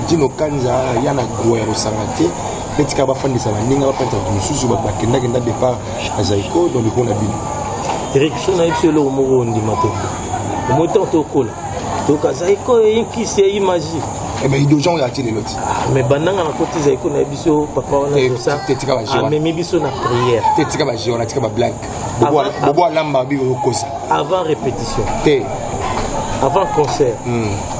jino kanza ya na gro ya kosanga te mpe tika bafandisa baninga bafandisa bato mosusu bato bakendakenda départ na zaiko donc likolo na bino erik so na biso eloko moko ondima te omoi ntango tokola toyoka zaiko eyinkisi eyi magie ebe eh idojan oyo ati lelo ti ah, me bandanga nakoti zaiko na biso papa wana amemi biso na prière te tika baje wana tika bablague bobo alamba biko okosa avant répétition te avant concert hmm.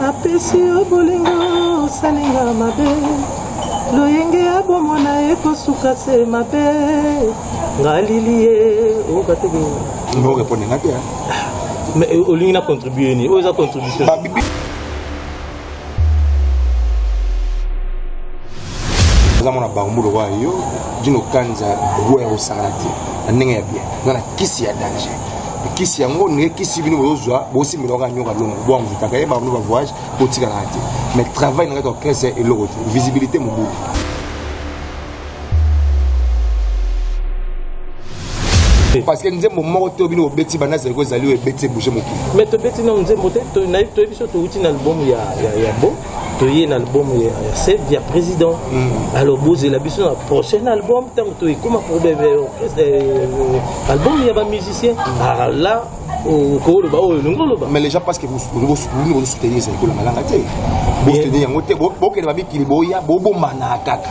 napesi yo bolingo osalinga mabe loyenge ya bomona ekosuka se mabe ngalili ye okateke eh, olingi na contribue nini oyo eza contribution eza mwana bango lokola yo dino kanza guer osangana te na ndenge ya bien nga na kisi ya danger kisi yango ndenge kisi bino bozozwa bosimbela kaka nyoka longo boanvutaka ye bamino bavoyage botikalaka te mais travail na kati ya orchestre ya eloko te visibilité mobulu parce que nzembo moko te bino bobeti banda zali ko ezali oyo ebeti ebouge mokili mais tobeti nao nzembo te toyebi so towuti na albumu ya bo toye na album ya save ya président mm. alors bozela biso na prochain album ntango toekoma problème euh, euh, album ya bamusicien mm. ah, là okoloba oyo olingi oloba mais les gens parce que bosukuni bozosoutenir ezali kolanga langa te bosoutenir yango te bokende bamikili boya bobombana kaka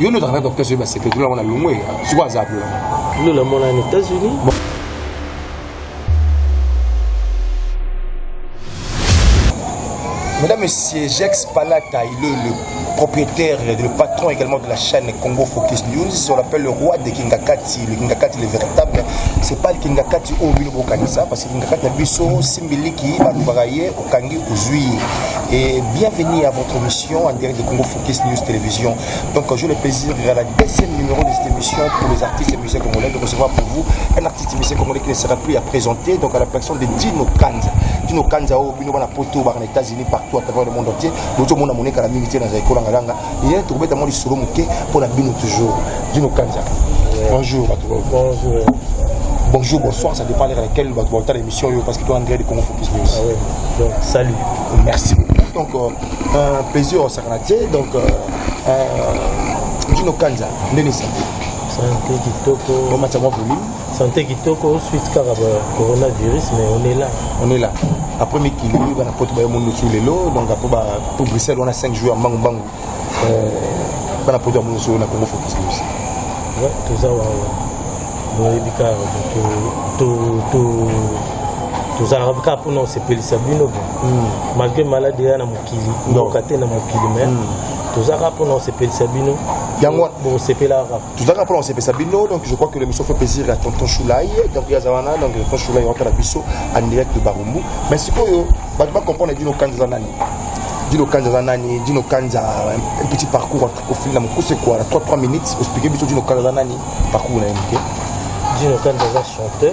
yo nozalaka na docteur soki baseke tolongo na longwe sikoyo aza kuna bino namona na états-unis Mesdames, Messieurs, Jex Palata, il est le propriétaire et le patron également de la chaîne Congo Focus News. On l'appelle le roi des Kingakati, le Kingakati, le véritable. C'est pas le Kingakati au Milo Bokanisa, parce Kaka na biso simbiliki balobaka ye okangi ozwi ye et bienvenue à votre émission en direct de Congo Focus News Télévision donc j'ai le plaisir à la deuxième numéro de cette émission pour les artistes et musiciens congolais de recevoir pour vous un artiste et musicien congolais qui ne sera plus à présenter donc à la personne de Dino Kanza Dino Kanza au oh, bino bana poto bana États-Unis partout à travers le monde entier bozo mona moneka la minute dans ekolo ngalanga ye tokobeta mwa lisolo moke mpo na bino toujours dino kanza bonjour bato bonjour bonjour bonsoir ça dépend leka laquelle bato baotala émission oyo parce que toi andré de congo focus news ah ouais. donc salut merci beaucoup donc euh, euh, plaisir osakana te donc euh, euh, dino kanza ndenge esante santé kitoko bomata mwa volume Santé kitoko suite kaka ba coronavirus mais on est là. On est là. Après mikili bana poto ba monde sur lelo donc après ba pour Bruxelles on a 5 jours mbangu mbangu. Euh bana poto ya monde sur na Congo focus aussi. Ouais, tout ça wa. Boyebi ka to to to tozalaka kaka mpona kosepelisa bino bo hmm. malgré maladi eya na mokili mboka te na mokili mai hmm. tozalaka mpona kosepelisa bino yango bokosepelaka tozalaka mpona kosepesa bino donc je crois que l'émission fait plaisir ya tonton choulai donc ye aza wana donc tonton choulai waka na biso en direct de barumbu mais sikoyo bato bacomprendre dino kanza aza nani dino kanza aza nani dino kanza un petit parcours entre kofili na mokuse kua na 3 3 minutes ospike biso dino kanza aza nani parcours na ye moke dino kanza aza chanteur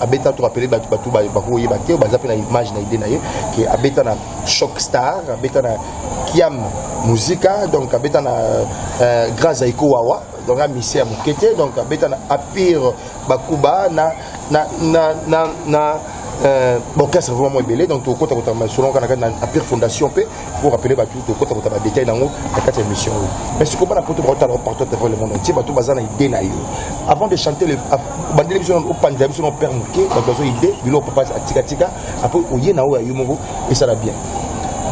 abeta to rappeler bato bato bakoyeba te baza mpe na image na idée na ye ke abeta na choc star abeta na kiam musica donc abeta na euh, grand zaiko wawa donc na mise ya moke te donc abeta na apire bakuba na na na na, na euh, bokesre vraiment ebele donc tokokota kotama solonga na kati na apire fondation mpe faut rappeler bato tokota kota ba détail nango na kati ya émission oyo mais sikoyo bana poto baotala o partout devant le monde entier bato baza na idée na yo avant de chanter le bandeli biso opanzela biso na père moke bato bazo idée bilo papa atikatika apres oye na oyo ya yo moko esala bien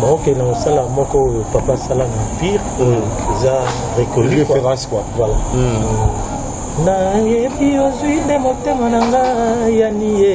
baokende kosala moko oyo papa asala na empire hmm. eza reconnu référence quoi voilà hmm. nayebi ozwi nde motema na ngai yaniye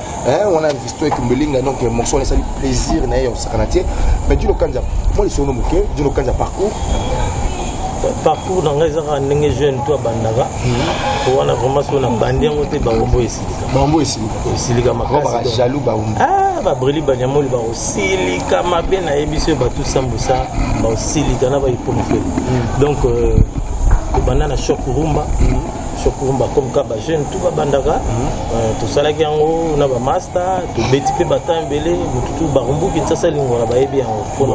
eh, wana visto ekumbelinga donc morceau wana esali plaisir na ye ya kosakana te mais dino kanja mwa lisono moke dino kanja parcours parcours na ngai eza kaka ndenge jeune to abandaka mhm. wana vraiment so nabandi yango te baombo esilika baombo esilika esilika makasi jaloux baombo ah, babreli banyamoli bakosilika mabe nayebi so bato sambusa bakosilika na baipomfele mhm. donc euh, ebanda na shop rumba mhm. sokurumba comme ka bajeune tout babandaka mhm. euh, tosalaki yango na bamasta tobeti mpe batemp ebele motutu barumbu kinsasa lingwala bayebi yango mpona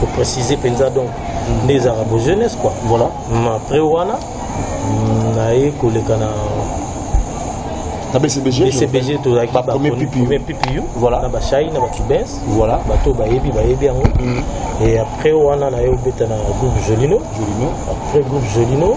koprécise mpenza donc mhm. nde ezalaka bo jeunesse quoi voilà après wana mm, naye koleka na na bcbg bcbg tozalaki bapremier ppu voilà na bashai na bacubens voilà bato bayebi bayebi yango mhm. et après wana naye obeta na groupe jolino jolino après groupe jolino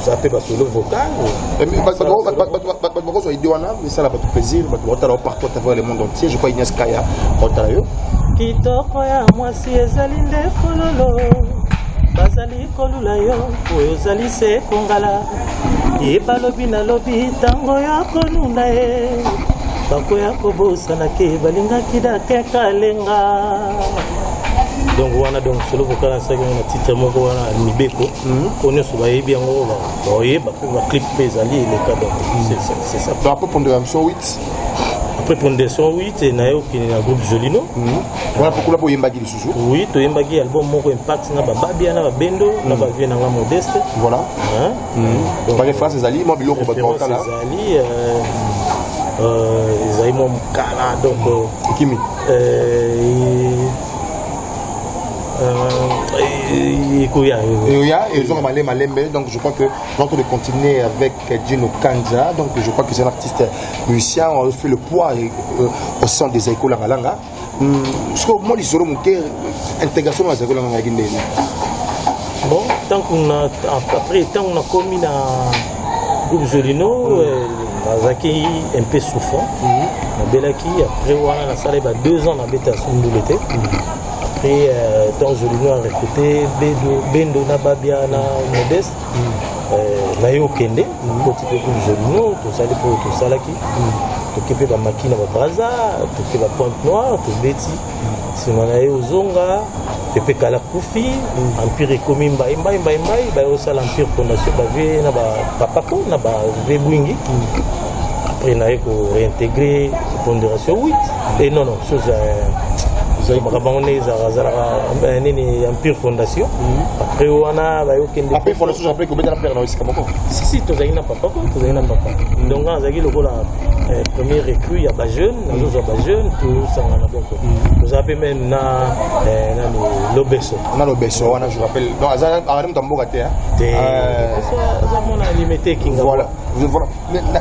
oza mpe basolo vocal bato bakozwa ide wana esala bato plaisir bato bakotala partout à travers le monde entier je crois ignace kaya bakotala yo kitoko ya mwasi ezali nde fololo bazali kolula yo oyo ozali se kongala ye balobi nalobi ntango ya konuna ye bakoya kobosana ke balingaki dakekalenga donc wana donc solo vokala asalaki na titre moko wana mibeko mpo nyonso bayebi yango baoyeba mpe baclip mpe ezali eleka donc c'est ça après pondera son 8 après pondera son 8 e naye okende na groupe jolino mhm. wana mpo kuna boyembaki lisusu oui toyembaki album moko impact na bababia na babendo na mhm. bavie na nga modeste voilà mhm. bareference ezali mwa biloko bato bakala ezali euh, euh, ezali mwa mokala donc euh, ekimi Euh, ekoya ekoya ezonga malembe malembe donc je crois que notre de continuer avec Gino Kanza donc je crois que c'est un artiste musicien on fait le poids euh, au sein des Zaiko Langalanga hmm, soko moi lisolo moke intégration na Zaiko Langalanga yaki ndenge bon ntango na après ntango nakomi na groupe Zolino mm. euh, nazalaki un peu souffrant mm. nabelaki après wana nasala ba deux ans nabeta ya sundule te mm. après euh, temps Zolino a recruté bendo na babia na modeste euh, naye okende koti mpe groupe Zolino tosali mpo tosalaki toke mpe bamaki na babraza toke bapointe noire tobeti nsima na ye ozonga pepe kala kufi empire ekomi mbai mbai mbai mbai baye osala empire fondation bave na bapapako na bave bwingi après naye ko réintégrer pondération 8 et non non chose euh, makambo yango nde ezalaka azalaka euh, nini empire fondation après wana bayokendesisi tozalaki na papa ko tozalaki na papa donc azalaki lokola Eh, premier recrue ya bajeune nazozwa bajeune tosangana donc toza mpe meme na eh, nani lobeso na lobeso wana je rappelle donc azali moto ya mboka te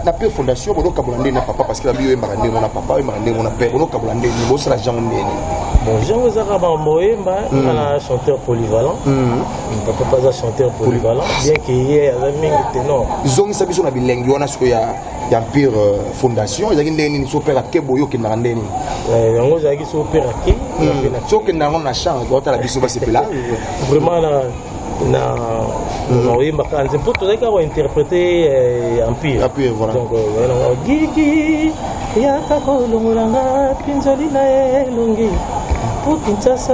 na pe fondation bonokabola ndenge na papa parce que babi oyembaka ndenge na papa oyembaka ndenge na père bonokabola ndenge bosala jango ndenge bon jango ezaka bambo oyemba nga na chanteur polyvalent hmm. papa aza chanteur polyvalent bien ke ye aza mingi tenor zongisa biso na bilengi wana sikoyo ya ya mpire euh, fondation ezalaki ndenge nini so pere ake boye okendaka ndenge nini euh, yango ezalaki so pere ake hmm. so okenda yango na chambre otala biso basepela vraiment na na hmm. oyemba kaka nze mpo tozalaki kaka kointerprete euh, empire donc yango gigi yaka kolongolanga pinzoli na elongi mpo kinsasa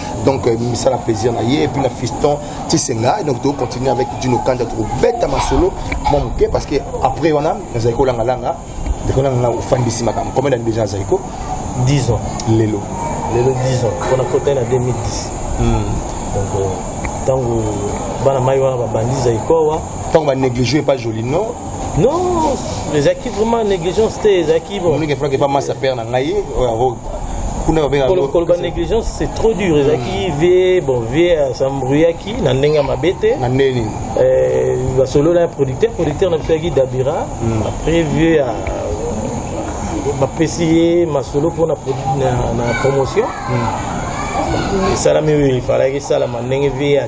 donc euh, misala plaisir na ye epuis na fiston tisenga et donc tokocontinue avec dino kanda tokobeta masolo mwa moke parce que après wana nazali kolangalanga ndekolanganga ofandisi makambo combien d'année déjà azali ko 10 ans lelo lelo 10 ans mpona kota na 2010 hmm. donc ntango euh, bana mai wana babandi zaikowa ntango banéglige epa jolino non ezalaki vraiment négligence te ezalaki bomonike frank epa masa père na ngai oyo kuna babengaka Kolo- koloba négligence c'est trop dur ezalaki vie bon vie asambrouillaki na ndenge ya mabe te na ndenge nini Euh, basolola ya producteur producteur na biso yaki dabira après vieux ya bapesi ye masolo mpo na produ- na- na promotion esalami oyo efalaki esalama ndenge vieux ya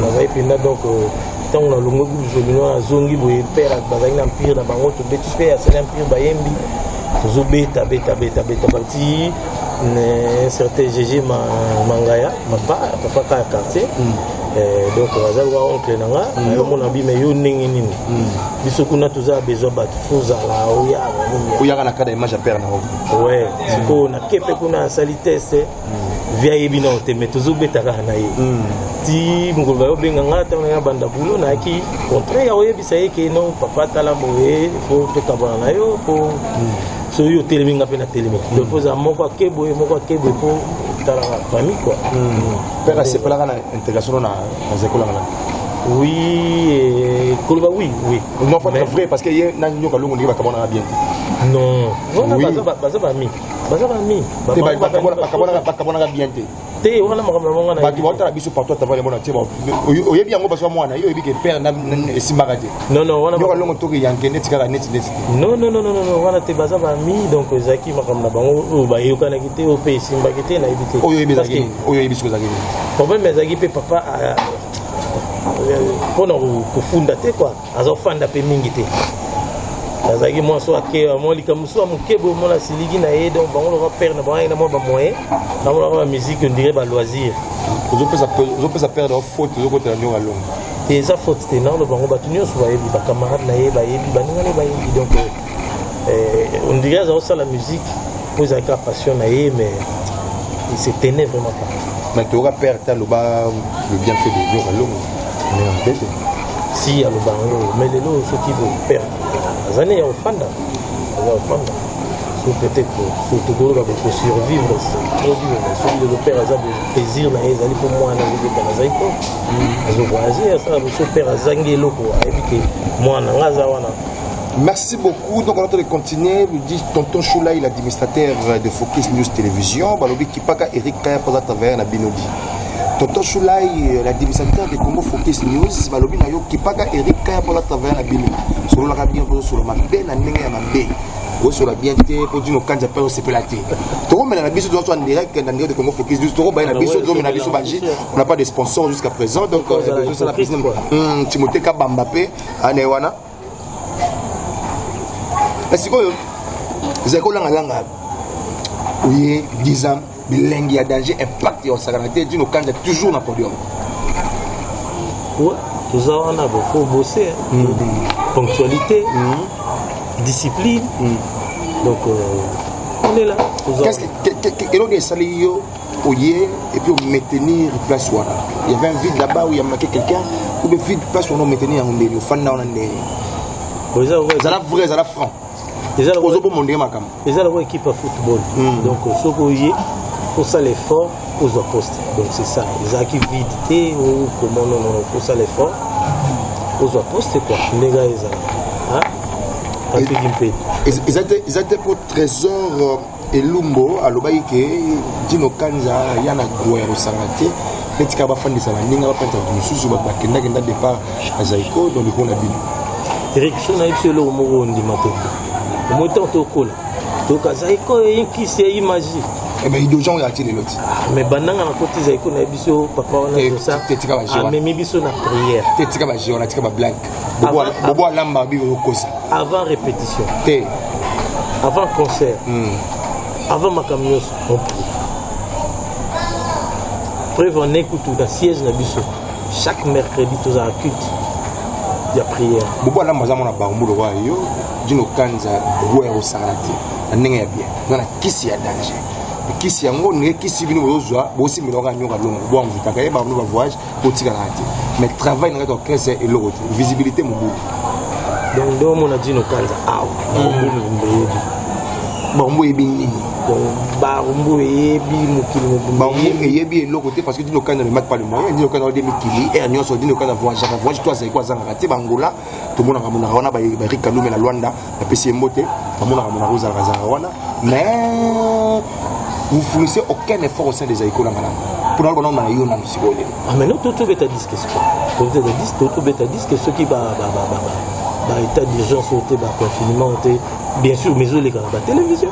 nazali mpenza donc euh, ntango nalongwe groupe jolino nazongi boye pere bazali na mpire na bango tobeti mpe asali mpire bayembi tozobeta beta beta beta bati un certain gg mangaya mapa papa kaya quartier mm. eh, donc aza loka oncle na nga mm. ayomona bima yo ndenge nini mm. biso kuna toza besoin bato fozala oyaka oyaka na kada image ya pere na ngo sikoyo na kepe kuna asali teste vie ayebi nao te mais tozobeta kaka na ye hmm. ti mokolo bayo obenga nga ntango nanga banda bulo nayaki contraire ya koyebisa ye ke no papa tala boye fo tokabana na yo po hmm. soki otelemi nga mpe natelemi hmm. donc ozala moko ake boye moko ake boye mpo talaka famille kua mpe kasepelaka na intégration na nazekolaka na oui eh, koloba oui oui non faut être vrai parce que ye na nyoka longo ndenge bakamonaka bien non baza bami baza bami bakabwanaka bien te te wana makambo na monga bato baotala biso partout ata valemona te oyebi yango bazwa mwana yo oyebi ke pere esimbaka te yoka longo toke yanke neti kaka neti neti te nonononono wana te baza bami donc ezalaki makambo na bango oyo bayokanaki te oyo mpe esimbaki te nayebi te oyo oyebi soki ezalaki problème ezalaki mpe papa mpo na kofunda te kua azofanda mpe mingi te azalaki mwa so akeya mwa likambo so ya moke boye mona asiliki na ye donc bango loka pere na bango ayaki na mwa bamoyen bango loka bamusike ondire baloisir ozopesa pere na faute ozokotela ndiongo alongo te eza faute te naoloba bango bato nyonso bayebi bacamarade na ye bayebi baninga na ye bayebi donc Eh, on dirait aza la musique mpo ezalaki la passion na ye mais il se tenait vraiment pas mais toyoka père te aloba le bien fait de dieu kalongo mais ambete si aloba yango mais lelo soki bopère aza ne ya ofanda aza ofanda so peut-être so tokoloba boko survivre trop dur mais soki lelo père aza plaisir na ye ezali mpo mwana azobeta nazali mpo azovoyage asala boso père azangi eloko ayebi ke mwana nga aza wana Merci beaucoup. Donc, on a de continuer. Nous dit Tonton Choulaï, l'administrateur de Focus News Télévision. Balobi Kipaka, Eric Kaya, Posa Taverne, à Binobi. Tonton Choulaï, l'administrateur de Congo Focus News. Balobi Nayo, Kipaka, Eric Kaya, Posa Taverne, à Binobi. Sur le rabien, sur le mabé, na nenge ya mabé. oyosola bien te mpo dino kanza mpe osepela te tokomela na biso toza en direct na ndenge de congo focus news tokobaye na biso tozomela biso baji on n'a pas de sponsor jusqu'à présent donc timothée kabamba mpe ane wana na sikoyo ezali kolangalanga oye 10 ans bilengi ya danger impact ya osakana te dino kanja toujours na podium toza wana bofo bose mm. ponctualité mm. discipline mm. donc euh, on est là eloko esali yo oye et puis maintenir place wana il y avait un vide là-bas où il y a manqué quelqu'un ou le vide place wana maintenir yango ndeni ofanda wana ndeni ezala vrai ezala franc ozoboma ndenge makambo eza lokola équipe ya football hmm. donc soki oye osala effort ozwa poste donc c'est ça ezalaki vide te okoma nonono osala effort ozwa poste quoi ndenge ezala patrick mpe eza te mpo trésor euh, elumbo alobaki ke dino kanza ya na dro ya kosanga te mpe tika bafandisa baninga bafandisa bato mosusu bato bakendakenda départ ya zaiko don likolo na bino erik so na biso eloko moko ondima te omoi ntango tokola toyoka zaiko eyinkisi eyi magie eh mais idojan oyo ati lelo ti ah, mais bandanga nakoti zaiko na biso papa wana amemi biso na prière te tika bageo na tika bablage bobo alamba biko okosa avant répétition te avant concert hmm. avant makambo nyonso preuve en ekutu na siège na biso chaque mercredi tozala culte ya prière bobo alamba aza mwana bango lokola yo dino kanza bobo ya kosangana te na ndenge ya bien nga na kisi ya danger kisi yango ndenge kisi bino bozozwa bosimbelaka nyoka longo bwango vitaka ye bango bavoyage kotika na te mais travail na kati orchestre eloko te visibilité mobulu donc nde omona dino kanza awa mm. bango eyebi nini bango eyebi mokili mobango eyebi eloko te parce que dino kanza ne mate pas le moyen dino kanza ode mikili aire nyonso dino kanza voyage voyage to azali ko azangaka te bangola tomonaka monaka wana barik kalume na lwanda bapesi ye mbote bamonaka monaka ozalaka zalaka wana mais vous fournissez aucun effort au sein des aïko langa langa mpona lobana omana yo nanu sikoyo lelo ameno ah, tobeta diske sikoyo tobeta diske soki baétat d'urgence oyo te baconfinement oyo te bien sûr mais ezoleka na batélévision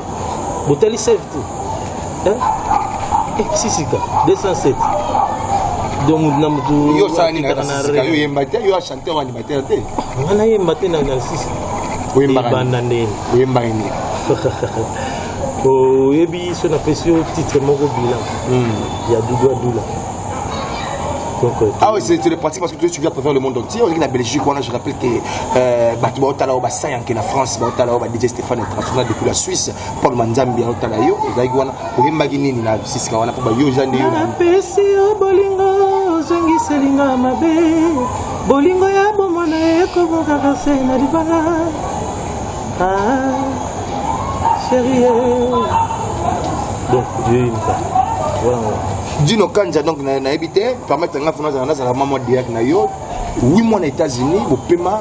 botali save te eh, sisika 207 donc na motu yo osala nini na sisika yo oyemba te yo Te wani batela te. Wana yemba te na narcisse. Oyemba banda ndeni. Oyemba ni. Oyebi so na pesi yo titre moko bilan. Hmm. Ya Doudou Adoula. Euh, ah oui, c'est le pratique parce que tu viens préfère le monde entier. On est la Belgique, on a, je rappelle que euh, Batou Baotala Oba Sayan, qui est la France, Baotala Oba DJ Stéphane International depuis la Suisse, Paul Manzambi, Baotala Yo, Daiguana. oyembaki nini na siska wana mpo bayoja nde yo napesi yo bolingo ozongiselinga mabe bolingo ya bomwana ekobokaka se na libala cherie ah, donc jeimisa voilà dino kanja donc nayebi te permettre nga fona nazala mama diak na yo wi mwana états-unis bopema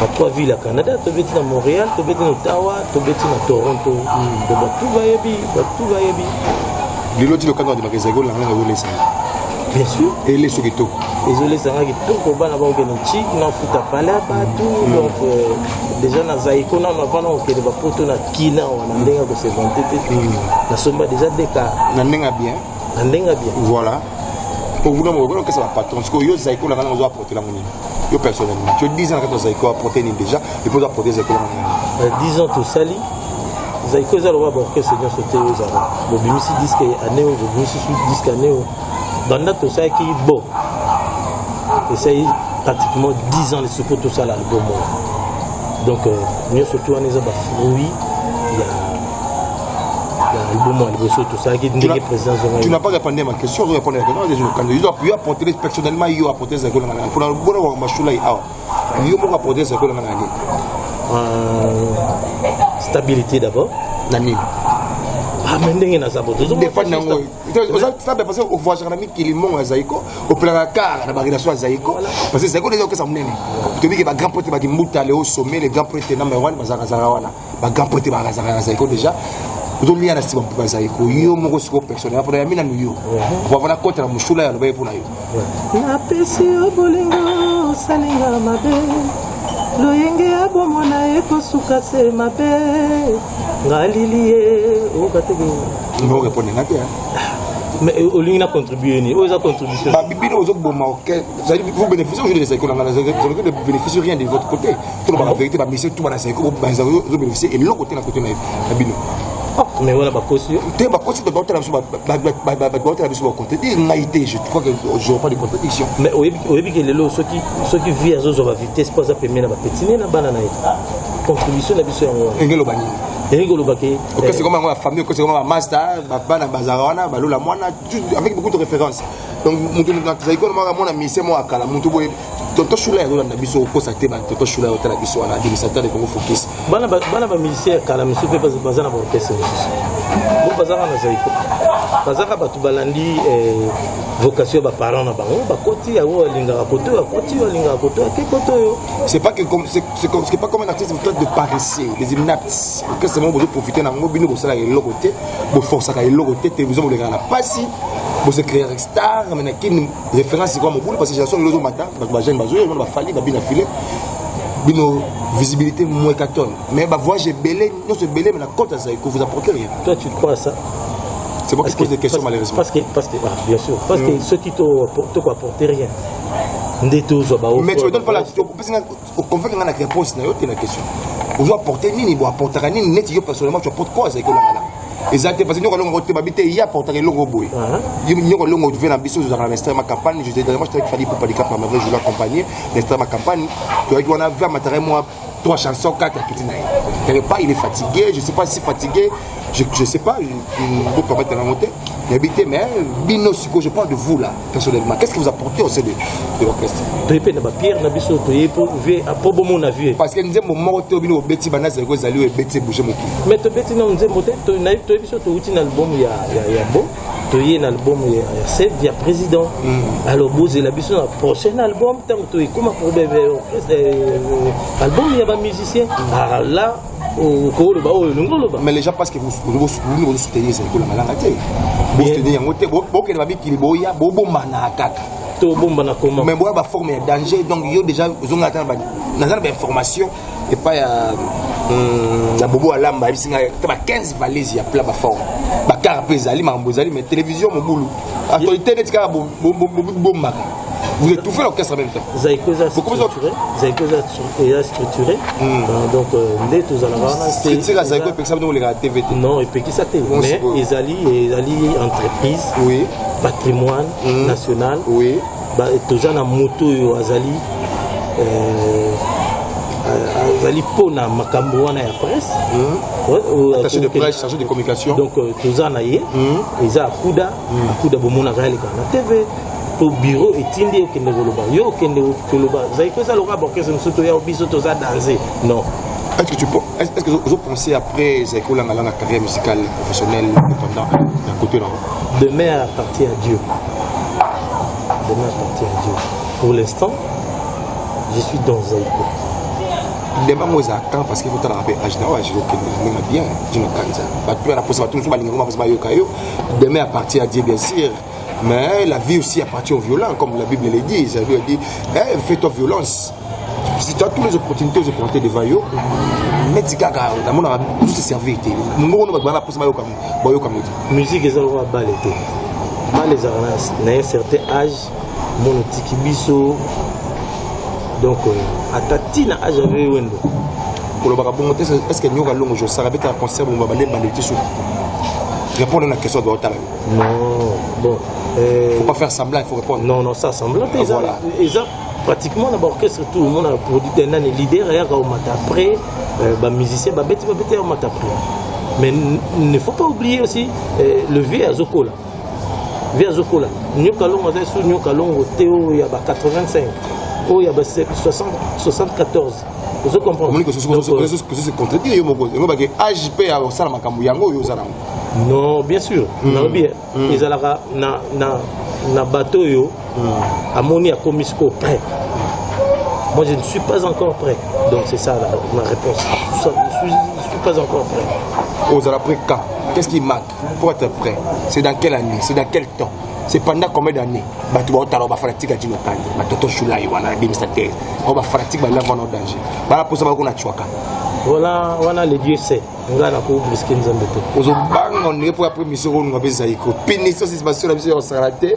na trois villes ya canada tobeti na montréal tobeti na ottawa tobeti na toronto to batu bayebi batu bayebi lelo ti lokanga ondimaka ezalaki olanga nanga ezolesa bien sûr eleso kitoko ezolesa nga kitoko bana bakokende ci nafuta pale ya batu donc euh, déjà na zaiko nano avant nakokende bapoto na kina wana ndenge ya kosevante te nasomba déjà deka na ndenge ya bien na ndenge ya bien voilà ovuna mokolo okesa bapatron sikoyo yo zaiko na ngana ozo apporte lango nini yo personnellement tu 10 ans na kati na zaiko apporte nini déjà epo ozo apporte zaiko lango nini 10 euh, ans tosali zaiko eza lokola baorchestre nyonso te oyo ezala bobimisi diske année oyo bobimisi su diske année oyo banda tosalaki bo esali pratiquement 10 ans lisusu mpo tosala album oyo donc euh, nyonso tu wana eza bafruit ya tu n'as pas répondu à ma question ozo répondre na question ezolo kanda yo yo apporter personnellement yo apporter zako na ngana pona bona wa mashula yi awa yo moko apporter zako na ngana ni euh, stabilité d'abord na nini ah, mais ndenge naza bodefani yango oza stable parce que ovoyagaka na mikili mongo ya zaiko opelaka kar na barelation ya zaiko parce que zaiko nde ezokesa monene tobike bagrand prêtre bakimbuta leo sommet le grand prêtre number 1 bazalaka zala wana ba grand pote ba razaka na zaiko déjà ozolia na sima mpuka zaiko yo moko siko personnel apona ya mina nuyo wavana kota na mushula ya lobaye pona yo napesi yo bolingo osalinga mabe loyenge ya bomo na ye kosuka se mabe ngalili ye okateke oreponde nga te mais euh, olingi na contribue nini oyo eza contribution babibino ozoboma ozali vous bénéficie aujourd'hui de zaikola nga je ne bénéficie rien de votre côté toloba na verite bamesien tu bana saiko bazobebisa eloko te na kote na bino mais wana bakosi yo te bakosi te baotala biso baotala biso bacontredire ngai te je crois que j'aurai pas de contradiction mais oyebi ke lelo soki soki vie azozwa bavitesse mpo aza pemie na bapetine na bana na ye contribution na biso yango wana engeloba nini elingi koloba ke okesi koma yango ya famille okesi koma bamasta bana bazala wana balola mwana avec beaucoup de référence donc moto azali kona mwana misa mwa kala moto boye Toto Shula ya Roland biso okosa te ba Toto Shula ya tala biso wana abimisa tala Congo focus. Bana bana ba musicien kala misu pe baza na orchestre. Bo baza na zaiko. Baza ka batu balandi eh, vocation ba parents na bango ba koti ya wo linga ba koto ya koti ya linga koto ya koto yo. C'est pas que comme c'est c'est comme c'est pas comme un artiste vous de paresseux, les inaptes. Que c'est bon vous profiter na ngo bino ko sala eloko te, bo forcer ka eloko te, télévision bo le na pasi, bo se créer star mais na kin référence sikoyo mobulu parce que génération lelo ezomata bato bajeune bazoya omona bafali babina file bino visibilité moins 14 mais bavoyage ebele nyonso ebele mais na cote ya zaiko vous apporte rien toi tu crois ça c'est moi qui pose des questions malheureusement parce que parce que ah, bien sûr parce que mm. soki toko apporte rien nde tozwa baopesi nga okonveke nga na réponse na yo te na question ozo apporte nini bo apportaka nini neti yo personnellement tu apporte quoi azali kolanga na eza te parce que nyoko alonga ngo te babi te ye apportaka eloko boye nyoko alonga otuve na biso tozalaka na mestre ma campagne je dernièrement je travaille fadi pour padicap na mavre je l'accompagner mestre ma campagne toyaki wana ve amataka mwa trois chansons quatre akiti na ye quelque part il est fatigué je sais pas si fatigué je, je sais pas mboka bata nango te nayebi te mais bino sikoyo je parle de vous là personnellement qu'est ce que vous apportez au sein de, de l'orchestre toye mpe na bapierre na biso toye mpo vie mpo bomona vie parce que nzembo moko te bino bobeti banda zaleko ezali oyo ebeti ebouge mokili mais tobeti nano nzembo te toyebi biso touti na album ya, ya, ya bo toye na album ya, ya sed ya président mm. alors bozela biso na prochain album ntango toekoma pour album ya bamusicien mm. alors là okoloba oyo olingi oloba mais les gens parce que bosukulu bozosoutenir ezali kolanga langa te bosoutenir yango te bokende babikili boya bobombana kaka tobombana comment mais boya baforme ya danger donc yo déjà ozonga ata naza na bainformation epai ya hmm, ya bobo alamba ayebisi ngai ata ba 15 valise ya pla baforme bakara mpe ezali makambo ezali mais télévision mobulu actualité neti kaka bobombaka Vous étouffez l'orchestre en même temps. Zaïko est structuré. Zaïko est structuré. Hmm. Euh, donc, euh, nde tozalaka wana. Structure ya Zaïko epekisa bino koleka TV te. Non, epekisa te. Mais ezali ezali entreprise. Oui. Patrimoine hmm. national. Oui. Ba toza na moto oyo azali euh, azali mpo na makambo wana ya presse hmm. attaché de presse chargé de communication donc toza na ye eza akuda akuda bomonaka yaleka na tv to biro etindi ye okende koloba yo okende koloba zali koza lokola baorkestre mosusu toya biso toza danze non Est-ce que tu est-ce que vous pensez après Zeko Langala la carrière musicale professionnelle pendant d'un côté là Demeure appartient à Dieu. Demeure appartient à Dieu. Pour l'instant, je suis dans Zeko. ndemba yango eza temps parce qu'il faut talaka mpe age na oyo age okende ndenge na bien dino kanza bato mpe na mposa bato mosusu balinga ngo baposa bayoka yo Demain appartient à Dieu, bien sûr. Mais la vie aussi appartient aux violents, comme la Bible le dit. La Bible dit, eh, fais-toi violence. Si tu as toutes les opportunités de compter devant eux, neti kaka namonaka juste servir te mongongo no bato bana mposa bayoka bayoka moto musique eza lokola bale te bale ezalaka na un certain âge mono tiki biso donc euh, ata tina age ave wendo kolobaka bongo te est ce que nyoka longo jo saka beta concert bomba bale bale te suka répondre na question doit otala non bon euh, faut pas faire semblant il faut répondre non non ça semblant te eza voilà. eza pratiquement na ba orchestre tout mon a produit un année leader ayaka omata après euh, ba musicien babeti babeti omata après mais il ne faut pas oublier aussi euh, le vieux azokola vie azokola nyoka longo aza lisusu nyoka longo te oyo ya ba 85 oyo ya ba 74 ozo comprendrecontredire yo moko elobaki age mpe ya kosala makambo yango oyo oza nango non bien sûr hmm. nalobi hmm. ezalaka na, na, na bato oyo hmm. amoni akomi sikoyo prêt moi je ne suis pas encore prêt donc c'est ça la, ma réponse je ne suis, je suis pas encore prêt ozala prêt quand qu'est ce qui manque Pour être prêt, c'est dans quelle année C'est dans quel temps C'est pendant combien d'années Bato baotala ba fanatique adino kande, ba toto shulai wana bimisa te. Ba ba fanatique ba lava no danger. Ba posa ba kuna chwaka. Wana wana le Dieu sait. Nga na ko briske nzambe te. Ozo banga on est pour après mission on ngabeza iko. Pini so c'est pas sur la mission on s'arrête.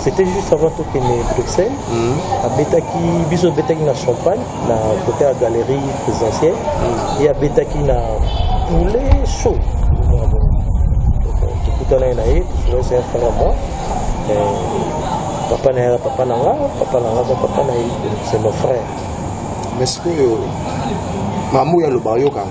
C'était juste avant tout que les Bruxelles, mm. à Betaki, biso Betaki na champagne, na côté à galerie présidentielle, mm. et à Betaki na poulet chaud. Tukutana na ye, c'est un frère à moi. Euh, papa na papa na nga, papa na nga, papa na c'est mon frère. Mais ce que mamu ya lobayoka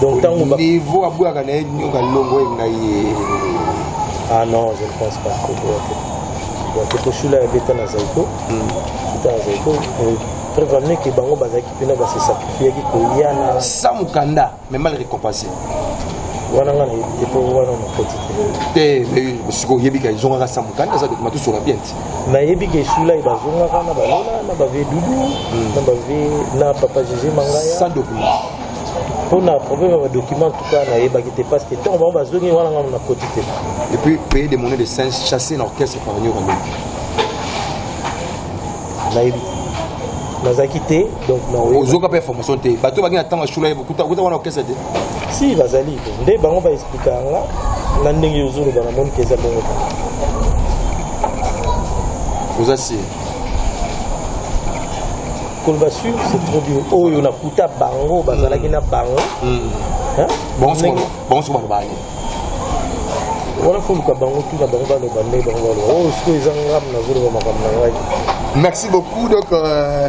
donc tango niveau abwaka na ye nyoka longo ye na ye ah non je ne pense pas que boyake toshula ya beta na zaiko beta na zaiko preuve amie ke bango bazalaki mpena base sacrifiaki koya na sa mokanda mais mal récompensé wana nga epo wana nakoti te te sikoyo oyebika ezongaka sa mokanda eza dokima tosola bien ti nayebi ke esula ye bazongaka na balola na bave dudu hmm. na bave na papa jege mangaya mpo na problème ya badocument tuka nayebaki te parce que ntango bango bazongi wana ngai nakoti te et puis payer des monnaies de singe chasser na orchestre par nioka nayebi nazalaki te ozoka mpe information te bato bangi na ntango ya shula ye bokuta okuta wana okesa te si bazali nde bango baexplika yanga na ndenge ozoloba na moni keza bongo oza sire koloba sur c'est trop dur oyo nakuta bango bazalaki na bango mm. bango soki balobaka nini wana foluka bango tuna bango baloba nde bango baloba oyo oh, sikoyo eza ngam nazoloba makambo na ngai merci beaucoup donc euh...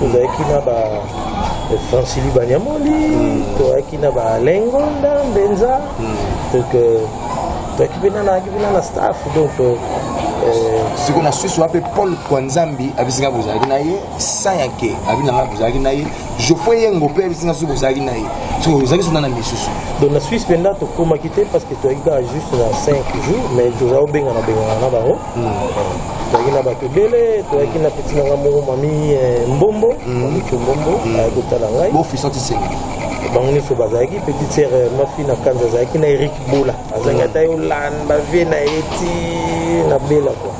tozalaki na ba francili banyamoli mm. toyaki na balengonda mbenza mm. donc euh, toyaki mpe nanayaki mpe na na staff donc euh, euh, siko na susu wape paul kwanzambi abisinga bozalaki na ye sayanke abinanga bozalaki na ye geoffrey yengo mpe abisinga soki bozalaki na ye soki ozalaki sona na misusu donc na suisse mpenza tokomaki te parce que toyaki kaka juste na 5 jours mais tozala obengana bengana na bango toyaki na bato ebele toyaki na peti na ngai moko mami eh, mbombo mm. mamikio mbombo mm. ayaki kotala ngai bango nyonso bazalaki petite sere eh, mafi na kanza azalaki na erik bola azalaki mm. ata ye olanda vie na ye ti na bela kua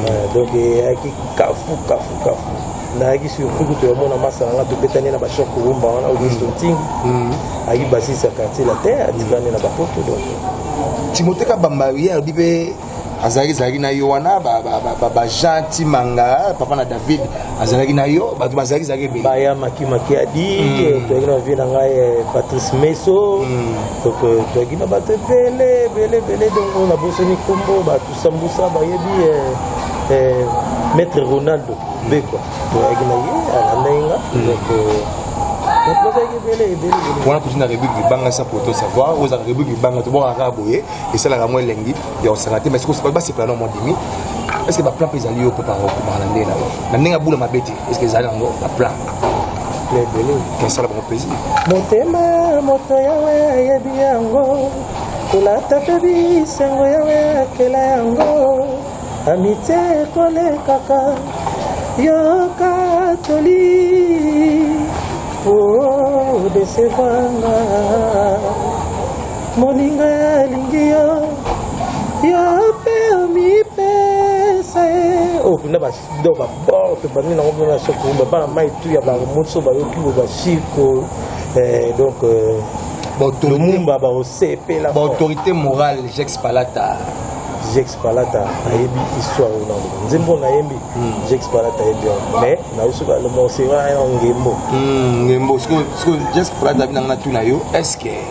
eh, donc eyaki kafu kafu kafu nayaki surtout kutu yamona masala nga tobetani na bashor kurumba wana augusto ntingi ayaki basisi ya quartier latin atikani na bapoto donc timote kabamba ye alobi mpe azalaki ezalaki na yo wana bajean timanga papa na david azalaki na yo bato bazalaki ezalaki ebele baya makimakiadi hmm. toyaki na vie na ngai eh, patrice meso hmm. donc euh, toyaki na bato ebele ebele ebele donc na bosani nkombo bato sambusa bayebi eh, eh, maître ronaldo bekwa toyaki na ye alandaki nga hmm. donc euh, wana kutu na république libanga sa poto savoir ozala république libanga tobokaka boye esalaka yango elengi ya kosaka te mais basepela na mondimi estce baplan mpe ezali yo mpe pakomaka na ndenge na yo na ndenge abula mabe te estce ezali yango baplan ebele esala bango plaisir motema moto yawe ayebi yango kolata mpe bisengo yawe akela yango amitie ekolekaka yoka toli o oh, desevanga moninga alingi yo yo mpe omipesa ye oyo kuna bado babor mpe bandi nango mpe basokoba bana mai tu ya bango moso bayoki bo basiko eh, donc euh, lumumba baosepela baautorité morale jex palata jex palata ayebi histoire oyo nango nzembo nayembi hmm. jex palata ayebi yango mais nayo soki alomosera yango ngembo hmm, ngembo sikoyo jex palata abi nanga na tuna yo est ce que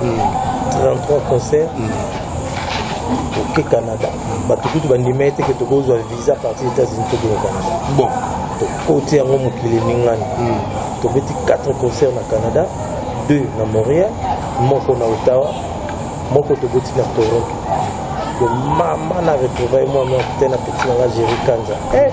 33 concert oke canada bato kutu bandima ete ke tokozwa visa parti états-unis tokende canada bon tokoti yango mokili ningani hmm. tobeti 4 concert na canada 2 na montréal moko na ottawa moko toboti na toronto mama na retrouvaille mwana te na peti na nga géri kanza eh!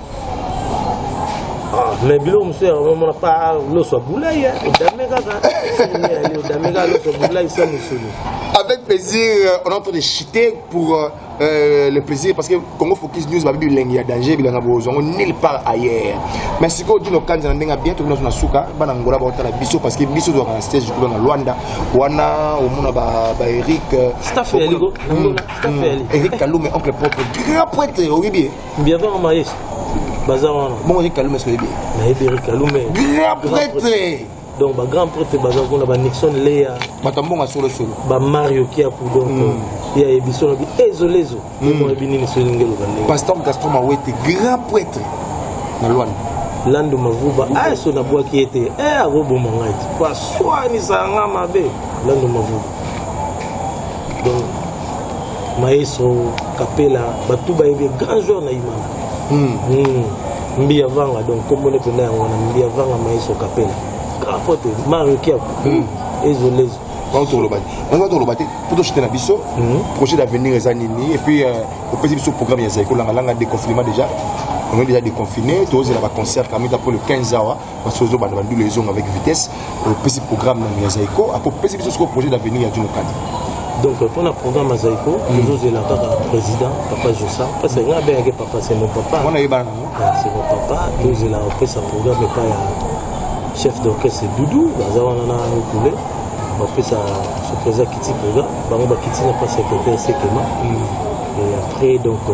mais biloko mosusu ya omona pa loso ya bulai odame kaka odame kaka loso ya bulai sa mosolo avec plaisir euh, on est en train de chiter pour euh, euh, le plaisir parce que Congo Focus News babi bilengi ya danger bilanga bozongo nulle part ailleurs mais sikoyo dino kanza na ndenge bien tokuna na suka bana ngola baotala biso parce que biso tozwaka na stage kuna na Luanda wana omona ba ba Eric staff ya ligo hmm, hmm. Eric Kalume oncle propre grand prêtre oyebi Biavanga Maestro baza wana. Bongo ye Kalume soki bien. Na Eberi Kalume. Grand prêtre. Donc ba grand prêtre baza kuna ba Nixon Lea. Batambonga solo solo. Ba Mario Kiapu donc. Mm. Ya ebiso na bi ezolezo. Mm. Mo bi nini soki ngelo ba ndenge. Pasteur Gaston Mawete grand prêtre na Luanda. Lando Mavuba aso ah, na bwaki ete eh akoboma ngai. Kwa swani sanga mabe Lando Mavuba. Donc Maestro Kapela bato bayebi grand joueur na Imana. Hmm. Hmm. Mbiya Vanga donc kombo ne penda yango na Mbiya Vanga Maestro Kapela. Kapote Mario Kiap. Hmm. Ezo lezo. bango toloba te bango toloba te mpo toshite na biso projet d'avenir eza nini epuis euh, opesi biso programme ya zai kolangalanga déconfinement déjà on est déjà déconfiné tozela baconcert kamita mpo le 15 awa parce que ozobanda bandula ezonga avec vitesse opesi programme nanu ya zaiko akopesi biso sikoyo projet d'avenir ya juno kadi donc mpo na programme ya zaiko tozozela kaka président papa josa parce que nga abengaki papa c'est mon papa wana yebana nango c'est mon papa tozela opesa programme epai ya chef d'orchestre doudou baza wana na okule bapesa soki eza kiti programme bango bakiti na mpasi ya kete ya sekema et après donc euh,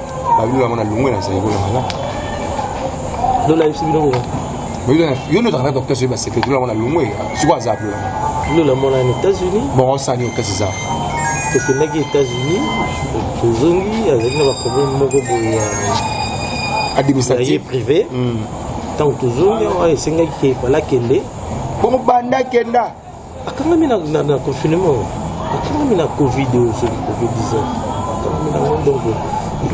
Babilo yango na longwe na saiko yango na. Lola yebisi bino ko. Babilo na yo ndio takana docteur soyeba secret lola yango na longwe siko aza pe. Lola mona na États-Unis. Bon on sani okasi za. Tokendaki États-Unis tozongi azali na baproblème moko boye ya administratif privé ntango tozongi awa esengaki ke fala kende bongo banda kenda Akangami na, na, na confinement, akangami na Covid oyo soki Covid 19 akangami na ngo ndongo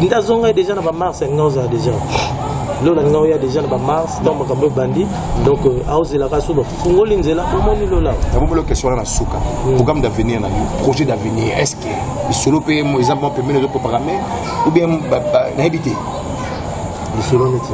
nde azongai deja na bamars ya ngai ozala deja lola ngai oya deja na bamars ntango makambo ebandi donc euh, aozelaka so bafungoli nzela omoni lola nabombolo question wana na suka programme d'avenir na yo projet d'avenir est ce que lisolo mpe eza mwa pembeni ezoprograme ou bien nayebi te lisolo neti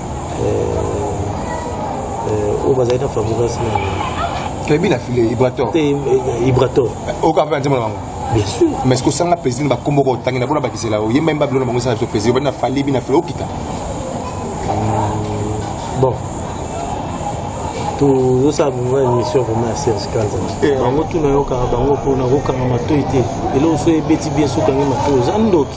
oyo bazali na fabrigas na toyebi na file ibrator ibrator oyoka mpe na nzembo na bango bien sûr mais ce kosanga président bakombo ko tangina pona bakisela yo yemba yemba bilona bango sala biso président bana fali bina fele okita bon tozosala bongo émission vraiment ya serge kanza bango tuna yokaka bango mpona kokanga matoi te eloko so ebeti bien sokangi matoi oza ndoki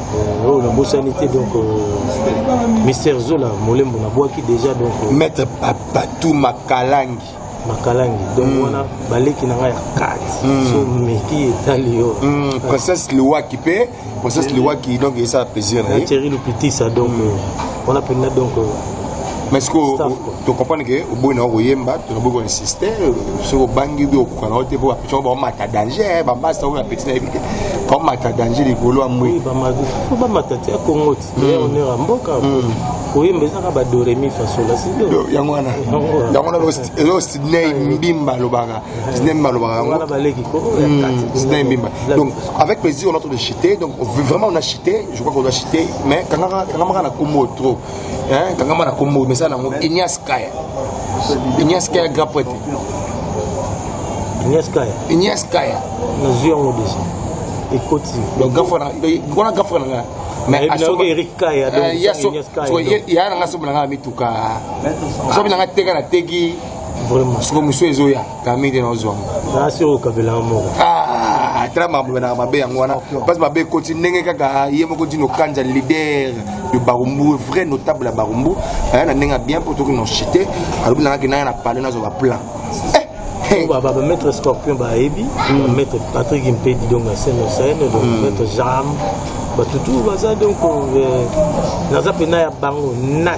Euh, oyo nabosani te donc euh, mister zola molembo nabwaki déjà donc euh, maître patou makalangi makalangi donc mm. wana baleki na ngai ya kati mm. so meki etali yo mm. princesse liwaki mpe princesse liwaki donc esala plaisir na ye thierry lupitisa donc mm. wana mpenza donc mais sikoyo tocomprendre ke oboyi na yo koyemba tonaboyi kona insiste soki obangi bi okoka na yo te mpo bapeti yango baomata danger bambasta oyo bapeti na yebi te baomata danger likolo ya mbwi fo bamata te ya kongo ti ya hmm. honneur ya mboka hmm. koyemba ezaka badoremi fasola sido yango wana yango wana ezo sidney mbimba alobaka sidney mbimba alobaka yango baleki kongo hmm, sidney mbimba donc avec plaisir on a trop de chite donc vraiment on a chite je crois qu'on a chite mais kangaka kangaka na kombo trop hein kangama na kombo mesa nango Ignace Kaya Ignace Kaya grand prêtre Ignace Kaya Ignace Kaya nazwi yango deja ekoti donc gafa na wana gafa na nga mais asoka Eric Kaya donc eh, ya so ya na nga so na nga mituka so na nga teka na teki vraiment soko musu ezoya kami nde naozwango nasi okabelanga moko ah, tala makambo benaka mabe yango wana mpasi mabe ekoti ndenge kaka ye moko dino kanja leader de barumbu vrai notable ya barumbu aya na ndenge ya bien mpo toki nochite alobi nanga kenaya na pale nazwa baplan bamaître scorpion bayebi hmm. maître patrick mpedi donc na scène na scène donc hmm. maître jam batutu baza donc euh, naza mpena ya bango na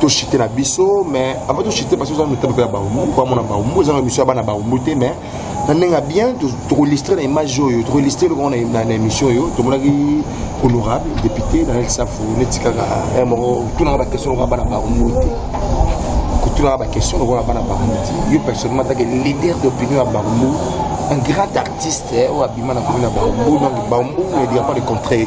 to chite na biso mais avant to chite parce que ozana mitabu mpe ya baumbu mpo amona baumbu ezanga émission ya bana baumbu te mais na ndenge ya bien tokolistre na image oyo tokolistre eloko na émission oyo tomonaki honorable député daniel safu neti kaka eh, moko tunaka baquestion lokola bana baumbu te kotunaka baquestion lokola bana baumbu te yo personnellement atake leader d'opinion ya baumbu un grand artiste eh, oyo abima na komi na baumbu donc baumbu ne dira pas le contraire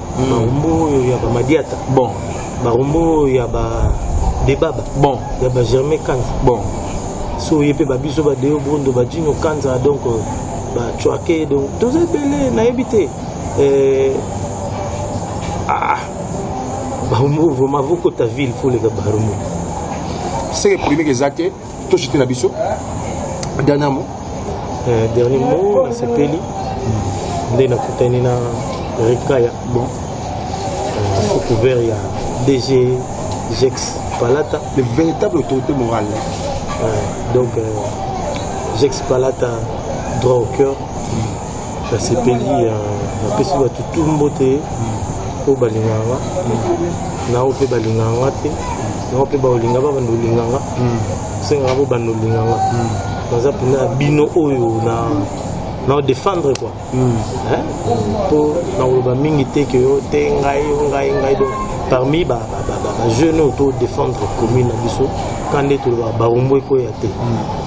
barumbu oyo ya bamadiata bon barumbu oyo ya ba debaba bon ya ba germain kanza bon so oye mpe babiso badeo bondo badino kanza donc euh, bacuake donc toza ebele nayebi te euh, ah, barumbu vraiment vokota ville foleka barumbu seke polemike eza te toshite na biso dernier mot euh, dernier mot nasepeli nde nakutani na rekaya bon euh, sous couvert ya dg jex palata le véritable autorité morale euh, donc euh, jex palata droit au cœur mm. nasepeli ya napesi bato tu mbote oyo balinganga na oyo mpe balinganga te na oyo mpe baolinga ba banda olinganga osengaka bo banda olinganga naza mpenza ya bino oyo na na defendre quoi mpo nakoloba mingi te ke yo te ngai yo ngai ngai donc parmi bajeune oyo to defendre commune na biso kande toloba baumbu ekoya te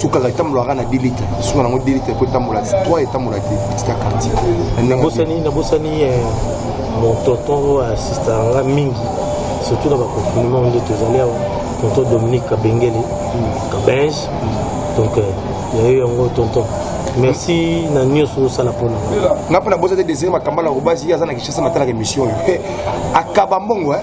sukaka etambolaka na 2 litre suka nango 2 litre po etambola 3 etambola te petit ya quartier nabosani nabosani eh, mon tonton oyo asistaka nga mingi surtout na baconfinement nde tozali awa tonton dominique kabengele kabenge donc eh, yayo yango tonton merci na nyonso osala mpona nga mpo na bosa te desire makambala kobasi ye aza na kishasa matalaka émission oyo akaba mbongo eh.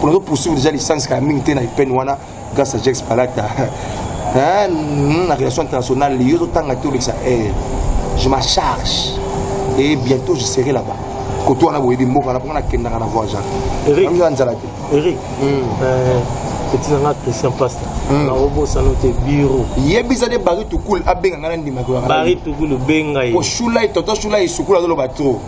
Kuna zo poursuivre déjà licence kala mingi te na IPN wana grâce à Jex Palata. Hein, hmm, na relation internationale, yo zo tanga te olekisa. Eh, je m'en charge et bientôt je serai là-bas. Koto wana boyebi mboka na pona na kendaka na voir Jacques. Eric, ndio anzala te. Eric. Hmm. Euh, petit nanga Christian Pasta. Hmm. Na robo sano te bureau. Yebisa de Barry Tukul abenga ngana ndima ko. Barry Tukul benga ye. Ko shula itoto shula isukula zo lo ba trop.